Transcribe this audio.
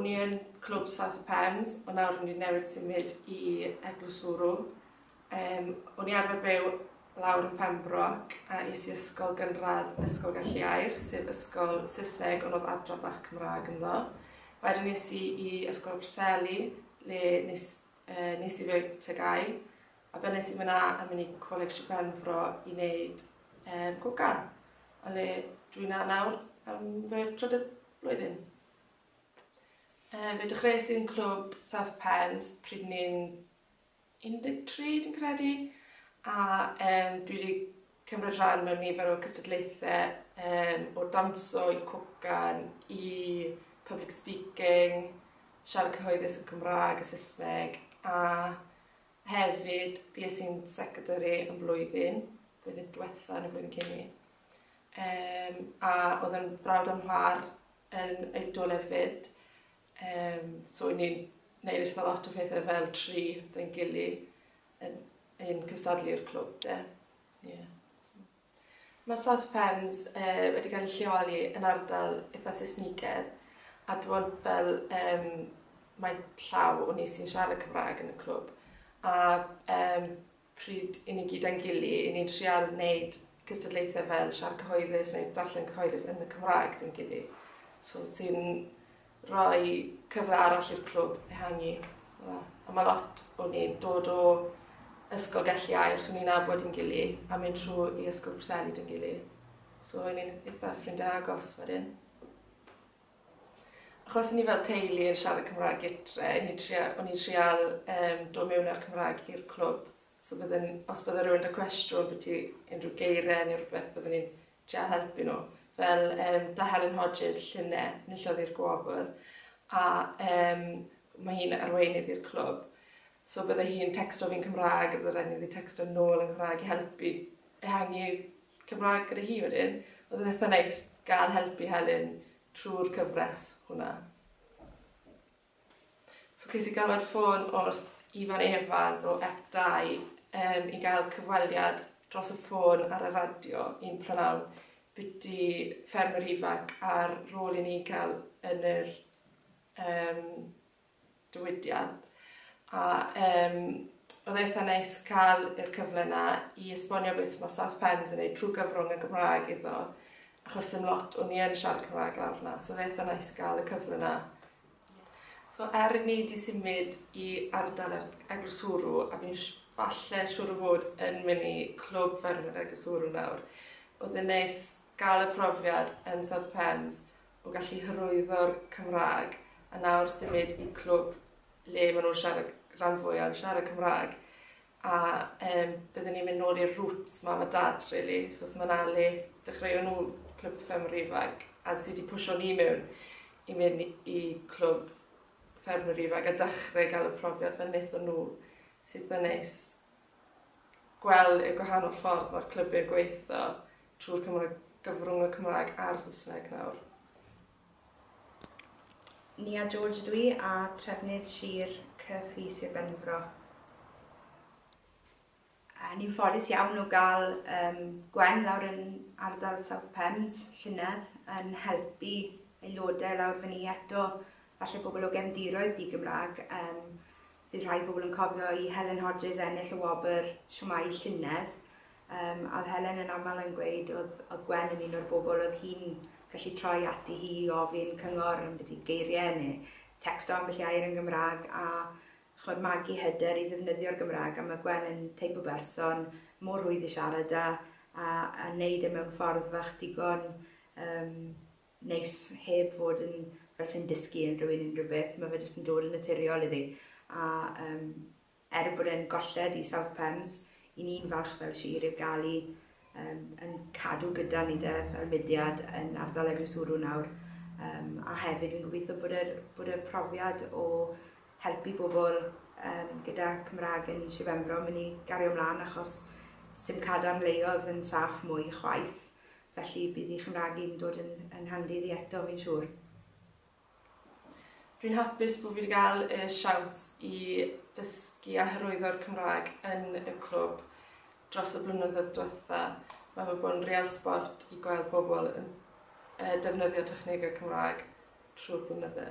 O'n i yn Clwb South of Pembs ond nawr o'n i newydd symud i Eglwys Wrw. Yym o'n i arfer byw lawr yn Pembroc a es i ysgol gynradd Ysgol Galliair sef ysgol Saesneg ond oedd adra bach Cymraeg ynddo. Wedyn es i i Ysgol y Preseli le nes yy nes i fy TGAU a be' nes i fyn 'na a myn' i Coleg Shir Benfro i neud yym cogan a le dwi 'na nawr am fy trydydd blwyddyn. Yy fe dechreuais i yn clwb South Pens pryd ni'n 13 dwi'n credu a yym dwi 'di cymryd rhan mewn nifer o cystadlaethe yym o dawnsio i cwcan i public speaking, siarad cyhoeddus yn Cymrâg a Saesneg a hefyd fues i'n secretary am flwyddyn, blwyddyn dwetha ne' blwyddyn cyn 'ny yym a o'dd yn frawd o'm mhar yn ein dolen fyd. Um, so i ni'n neud eitha lot o pethau fel tri dyn gili yn, yn cystadlu'r clwb de. Yeah. Mae South Pems uh, wedi cael ei lleoli yn ardal eitha Saesnigedd a dwi'n fel um, mae llaw o ni sy'n siarad Cymraeg yn y clwb a um, pryd i ni gyd a'n gily, i ni'n trial wneud cystadlaethau fel siar cyhoeddus neu darllen cyhoeddus yn y Cymraeg dyn gily. So ti'n rhoi cyfle arall i'r clwb ehangu. A mae lot o ni'n dod o ysgol gelliau, so ni'n abod yn gily, a mynd trwy i ysgol Preseli dyn gily. So ni'n eitha ffrindiau agos wedyn. Achos ni fel teulu yn siarad Cymraeg gytre, ni'n tria- o'n i'n trial yym dod mewn â'r Cymraeg i'r clwb, so bydden, os bydde rywun 'da cwestiwn biti unrhyw geire ne' rwbeth bydden ni'n trial helpu nhw. Fel yym 'da Helen Hodges, llune, enillodd i'r gwobr a yym ma' hi'n arweinydd i'r clwb, so bydde hi'n tecsto fi'n Cymraeg a bydde raid i fi tecsto nôl yn Nghymraeg i helpu ehangu Cymraeg gyda hi wedyn. Oedd yn eitha neis gael help i Helen trwy'r cyfres hwnna. So ces i galwad ffôn wrth Ifan Evans o Ep2 um, i gael cyfweliad dros y ffôn ar y radio un prynawn byti ffermwyr ifanc a'r rôl i ni cael yn yr um, diwydiant a yym oedd e eitha neis cael yr cyfle 'na i esbonio beth ma' South Pens yn neud trw gyfrwng y Gymraeg iddo achos sim lot o ni yn siarad Cymraeg lawr 'na so oedd e eitha neis ga'l y cyfle 'na. So er i ni 'di symud i ardal yr eglwswrw a fi'n sh- falle siŵr o fod yn myn' i Clwb Ffermwyr Eglwswrw nawr oedd e'n neis ga'l y profiad yn South Pens o gallu hyrwyddo'r Cymraeg a nawr symud i clwb le maen nhw'n siarad, rhan fwyaf yn siarad Cymraeg. A um, byddwn ni'n mynd nôl i'r roots mam a dad, really, chos mae'n ale dechreu nhw clwb ffermwyr ifanc a sydd wedi pwysio ni mewn i mynd i clwb ffermwyr ifanc a dechrau gael y profiad fel wnaethon nhw sydd yn neis. gweld y gwahanol ffordd mae'r clybiau'n gweithio trwy'r Cymraeg, gyfrwng y Cymraeg a'r Saesneg nawr. Nia George ydw i a trefnydd Sir Cyfi Sir Benfro. Uh, ni'n ffodus iawn o gael um, Gwen lawr yn ardal South Pems, llynedd, yn helpu aelodau lawr fyny eto, falle bobl o gefndiroedd di Gymraeg, um, Bydd rhai pobl yn cofio i Helen Hodges ennill y wobr Shwmae y llynedd, um, a oedd Helen yn aml yn gweud oedd, oedd Gwen yn un o'r bobl oedd hi'n gallu troi ati hi i ofyn cyngor yn byd geiriau neu texto ambell i air yn Gymraeg a chod magu hyder i ddefnyddio'r Gymraeg a mae Gwen yn teip o berson mor rwydd i siarad a, a, a wneud e mewn ffordd fach digon um, neis heb fod yn fel sai'n dysgu unrhyw un unrhyw beth, mae fe jyst yn dod yn naturiol iddi. A um, er bod e'n golled i South Pens, i ni'n falch fel sir yw gael i um, yn cadw gyda ni de, fel mudiad yn ardal Eglwyswrw nawr. Um, a hefyd fi'n gobeithio bod e'r, bod e'r profiad o helpu bobl um, gyda Cymraeg yn Sir Benfro mynd i gario ymlaen achos sy'n cadarn leiodd yn saff mwy chwaith. Felly bydd i Chymraeg i'n dod yn yn handi iddi eto fi'n siŵr. Fi'n hapus bo fi 'di ga'l y siawns i dysgu a hyrwyddo'r Cymraeg yn y clwb dros y blynyddoedd dwetha. Ma' fe bod yn real sbort i gweld pobl yn yy defnyddio technege Cymraeg trw'r blynydde.